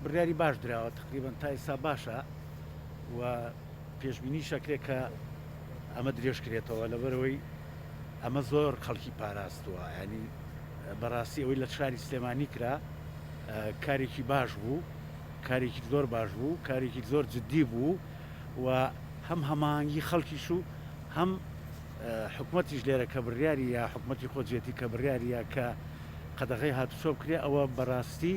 بڕیاری باش دراوە تەقریبەن تا ئیستا باشە و پێشبینیش ئەکرێ کە ئەمە درێژ کرێتەوە لەبەرەوەی ئەمە زۆر خەڵکی پاراستووە ینی بەڕاستی ئەوەی لە شاری سلێمانی کرا کارێکی باش بوو کارێکی زۆر باش بوو کارێکی زۆر جددی بوو و هەم هەمانگی خەڵکیش و هەم حکوومەتیش لێرە کە بڕیاری یا حکوومەتتی خۆجێتی کە بڕیاریە کە قەدەغی هاتوچۆ بکرێ ئەوە بەڕاستی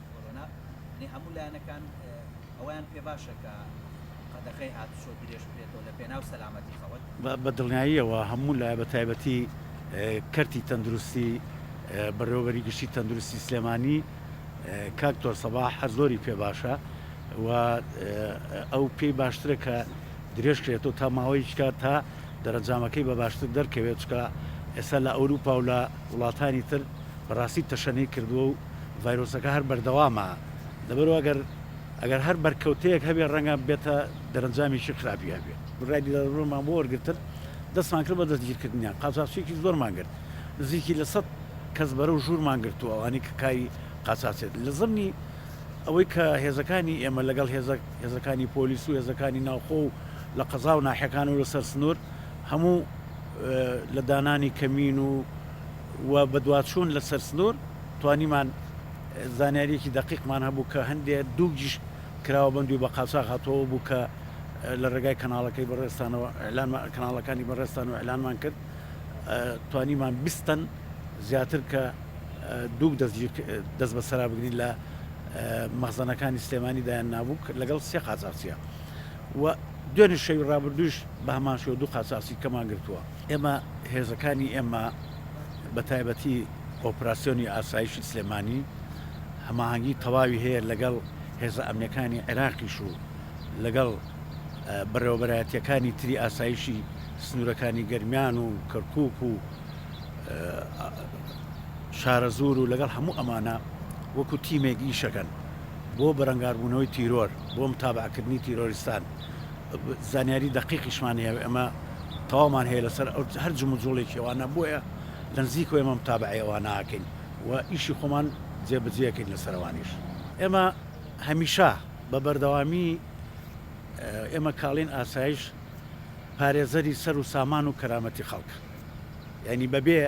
کۆرۆنا، یەعنی هەموو لایەنەکان ئەوەیان پێ باشە کە قەدەخەی هاتوچۆ درێژ بکرێتەوە لە پێناو سەلامەتی خەڵک. بە دڵنیاییەوە هەموو لایە بە تایبەتی کەرتی تەندروستی بەڕێوەبەری گشتی تەندروستی سلێمانی کاک تۆر سەباح هەر زۆری پێ باشە و ئەو پێی باشترە کە درێژ کرێتەوە تا ماوەیەکی کات تا دەرەنجامەکەی بە باشتر دەرکەوێت چکە ئێستا لە ئەوروپا و لە وڵاتانی تر بەڕاستی تەشەنەی کردووە و ڤایرۆسەکە هەر بەردەوامە لەبەرو ئەگەر ئەگەر هەر بەرکەوتەیەک هەبێ ڕەنگە بێتە دەرەنجامێکی خراپی هەبێ ڕای دیلەرەوەمان بۆ وەرگتن دەستمان کرد بە دەستگیرکردنیان قاچاخچیەکی زۆرمان گرت نزیکی لە سەد کەس بەرەو ژوورمان گرتووە ئەوانی کە کاری قاچاچێت لە زمنی ئەوەی کە هێزەکانی ئێمە لەگەڵ هێزە هێزەکانی پۆلیس و هێزەکانی ناوخۆ و لە قەزا و ناحەکان و لەسەر سنوور هەموو لە دانانی کەمین و و بەدواچوون لەسەر سنوور توانیمان زانیاریەکی دەقیقمان هەبوو کە هەندێ دوو گشت کراوە بەندوی بە قاچاغ هاتوەوە بوو کە لە ڕێگای کەناڵەکەی بەڕێزتانەوە ئیعلان کەناڵەکانی بەڕێزتانەوە ئیعلانمان کرد توانیمان بیستن زیاتر کە دوو دەست دەست بەسەرا بگرین لە مەخزەنەکانی سلێمانی دایان نابوو لەگەڵ سێ قاچاقچیە و دوێنێ شەوی ڕابردووش بە هەمان شێوە دوو قاچاقچی کەمان گرتووە ئێمە هێزەکانی ئێمە بە تایبەتی ئۆپراسسیۆنی ئاسایشی سلێمانی هەماهنگگی تەواوی هەیە لەگەڵ هێزە ئەمنەکانی عێراقیش و لەگەڵ بەڕێوەبەرایەتەکانی تری ئاسایشی سنوورەکانی گەرمیان و کەرکک و شارە زۆر و لەگەڵ هەموو ئەمانە وەکو تیمێک ئیشەکەن بۆ بەرەنگاربوونەوەی تیرۆر بۆ متابعکردنی تیرۆریستان زانیاری دەقیقیشمان هەیە و ئێمە تەواومان هەیە لەسەر ئەو هەر جموجوڵێکی ئەوانە بۆیە لە نزیکەوە ئێمە متابعەی ئەوانە ئەکەین و ئیشی خۆمان جێبەجێ ئەکەین لەسەر ئەوانیش ئێمە هەمیشە بە بەردەوامی ئێمە کاڵین ئاسایش پارێزەری سەر و سامان و کەرامەتی خەڵکە یعنی بەبێ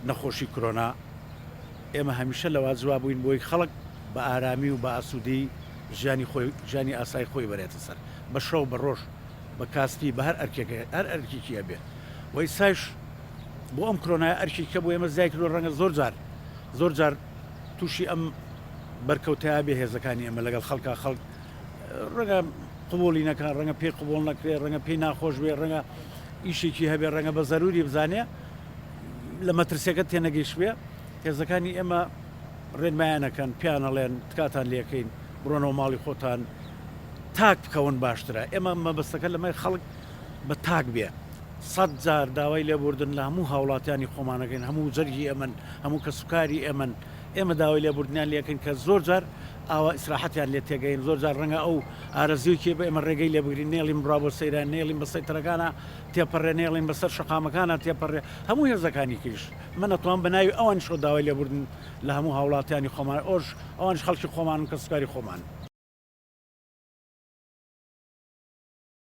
نەخۆشی کرۆنا ئێمە هەمیشە لەوا جوابووین بۆی خەڵک بە ئارامی و بە ئاسوودەی ژیانی خۆی ژیانی ئاسای خۆی بەرێتە سەر بە شەو بە ڕۆژ بە کاسپی بە هەر ئەرکێک هەر ئەرکێکی هەبێ وەی سایش بۆ ئەم کرۆنای ئەرکی کە بۆ ئێمە زیای کردو ڕەنگە زۆر جار زۆر جار تووشی ئەم بەرکەوتەیە بێ هێزەکانی ئێمە لەگەڵ خەڵکە خەڵک ڕەنگە قوبولی نەکە ڕەنگە پێی قوبول نەکرێ ڕەنگە پێی ناخۆش بێ ڕەنگە ئیشێکی هەبێ ڕەنگە بە زەروری بزانێ لە مەترسیەکە تێنەگەیش بێ هێزەکانی ئێمە ڕێنمایانەکەن پێیان ئەڵێن تکاتان لێکەین بڕۆنەوە ماڵی خۆتان تاک بکەون باشترە ئێمە مەبەستەکە لەمای خەڵک بە تاک بێ سەد جار داوای لێبوردن لە هەموو هاوڵاتیانی خۆمانەکەین هەموو جەرگی ئەمن هەموو کەسوکاری ئێمن ئێمە داوای لێبوردنیان لەکەن کە زۆر جار ئاوا ئیسراحەتیان لێ تێگەین زۆر جار ڕەنگە ئەو ئارەزیوکی بە ئێمە ڕێگەی لێ بگرین نێڵیم ڕا بۆ سەیران نێڵیم بە سەیتەرەکانە تێپەڕێ نێڵین بەسەر شقامەکانە تێپەڕێ هەموو هێزەکانی کریش من ئەتوانم بە ناوی ئەوانیشەوە داوای لێبوردن لە هەموو هاوڵاتیانی خۆمان ئۆش ئەوانیش خەڵکی خۆمانن کەسوکاری خۆمانن.